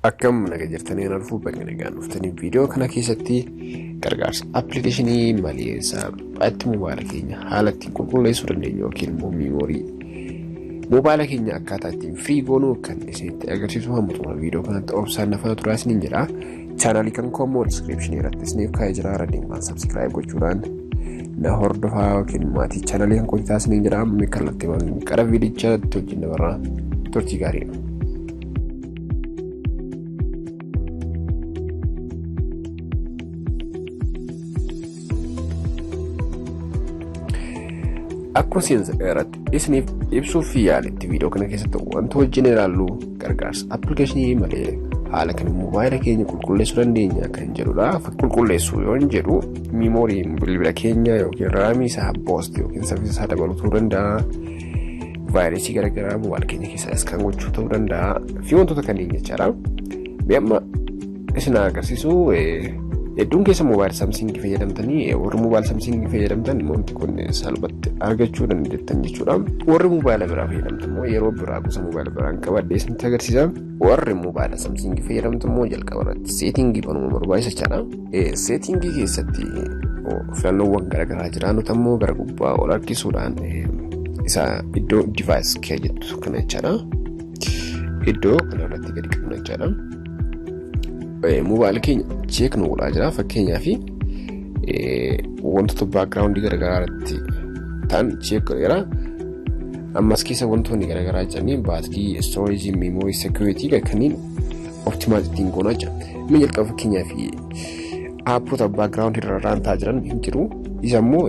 Akkam naga jirtanii kan arfuu baga nagaan dhuftanii viidiyoo kana keessatti gargaarsa appilikeeshinii malii isaa itti mobaala keenya haala ittiin qulqulleessuu dandeenyu yookiin immoo miimoorii mobaala keenya akkaataa ittiin firii goonuu kan isinitti agarsiisu hamma xumura viidiyoo kanatti obsaan na faana turaa isiniin jedha. Chaanaalii kan koo immoo diskiripshinii irratti isiniif kaa'ee jira irra deemaan sabskiraayib gochuudhaan na hordofaa yookiin maatii chaanaalii kan kootii taasisanii jedha kallattii waan qara viidicha wajjin dabarraa turtii gaariidha. Akkuma seensa irratti isiniif ibsuuf yaaletti viidiyoo kana keessatti wanta wajjin ilaallu gargaarsa appilikeeshinii malee haala kan moobaayila keenya qulqulleessuu dandeenya kan jedhudha. Qulqulleessuu yoo jedhu miimoorii bilbila keenya yookiin raamii isaa boost yookiin saffisa isaa dabaluu danda'a. vaayirasii garaagaraa mobaayil keenya keessaa iskaan gochuu ta'uu danda'a fi wantoota kanneen jechaadha. Mee amma isin agarsiisu hedduun keessa mobaayil saamsingii fayyadamtanii warri mobaayil saamsingii fayyadamtan wanti kun salphatti argachuu dandeettan jechuudha. Warri mobaayila biraa fayyadamtan immoo yeroo biraa gosa mobaayila biraan qabadhee isinitti agarsiisa. warri mobaayila samsiingii fayyadamtu immoo jalqaba irratti seetingii banuma barbaachisa jechaadha. Seetingii keessatti filannoowwan garaagaraa jira nuti ammoo gara gubbaa ol harkisuudhaan isa iddoo divaayis kee jettu kana jechaadha. Iddoo kana irratti gadi qabna jechaadha. Mobaayila keenya cheek nu godhaa jira fakkeenyaaf wantoota baakgiraawundii garaagaraa irratti ta'an cheek godheera. Ammas keessa wantoonni garaagaraa jedhanii baatii storage memory security kanneen optimize ittiin goonaa jira. Mee jalqaba fakkeenyaaf aapota background irra raantaa jiran hin jiru. Isa immoo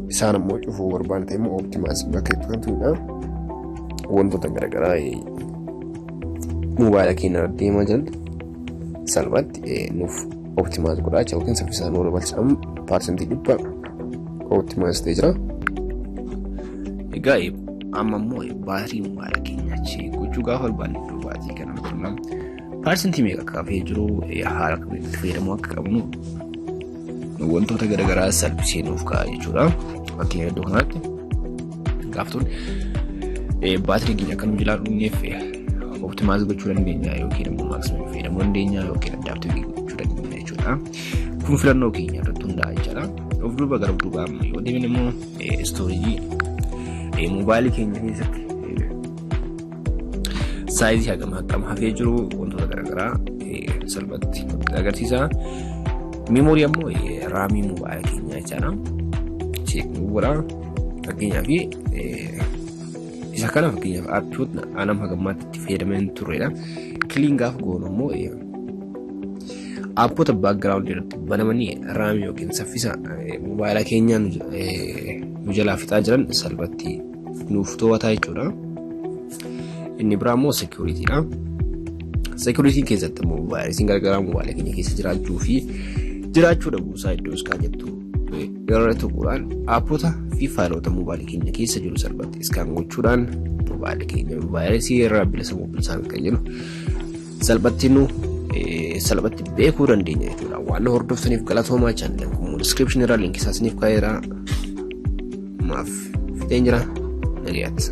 isaan immoo cufuu barbaadna ta'e immoo optimize bakka itti galchuudha. Wantoota garaagaraa moobaayila keenya irra deemaa jiran salphaatti nuuf optimize godhaa jechuudha yookiin saffisaan nu dabalcha parsantii dhibba optimize ta'e jira. Egaa amma immoo baatirii mobaayila keenya achi gochuu gaafa barbaanne iddoo baatirii kana turna. Paarsentii meeqa akka hafee jiru haala kamiin itti fayyadamuu akka qabnu wantoota garaagaraa salphisee nuuf ka'a jechuudha. Fakkeenya iddoo kanatti gaaftuun baatirii keenya akka nu jalaa dhumneef optimize gochuu dandeenya yookiin immoo maximum fayyadamuu dandeenya yookiin adaptive gochuu dandeenya jechuudha. Kun filannoo keenya irratti hundaa'a jechaadha. Of duuba gara duubaa amma yoo deemne immoo istoorejii mobaayilii keenya keessatti saayizii hagam hagam hafee jiru wantoota garaagaraa salphatti agarsiisa. Meemoorii ammoo raamii mobaayila keenyaa jechaadha. Cheekni godha. Fakkeenyaaf isa kana fakkeenyaaf aappiiwwan anam hagammaatti itti fayyadamee hin turredha. Kiliin gaafa goonu ammoo Aappota background irratti banamanii raamii yookiin saffisa mobaayila keenyaa nu jalaa fixaa jiran salphatti nuuf to'ataa jechuudha. Inni biraa immoo security dha. Security keessatti immoo vaayirasiin garagaraa mobaayila keenya keessa jiraachuu fi jiraachuu dhabuusaa iddoo iskaan jettu irra tuquudhaan aappota fi faayilota mobaayila keenya keessa jiru salphatti iskaan gochuudhaan mobaayila keenya vaayirasii irraa bilisa mobilisaan kan jiru salphatti nu salphatti beekuu dandeenya jechuudha. Waan nu hordoftaniif galatoomaa chaanala kun description irraa linkii isaa isiniif kaa'eera. Maaf fideen jira. Nagayaatti.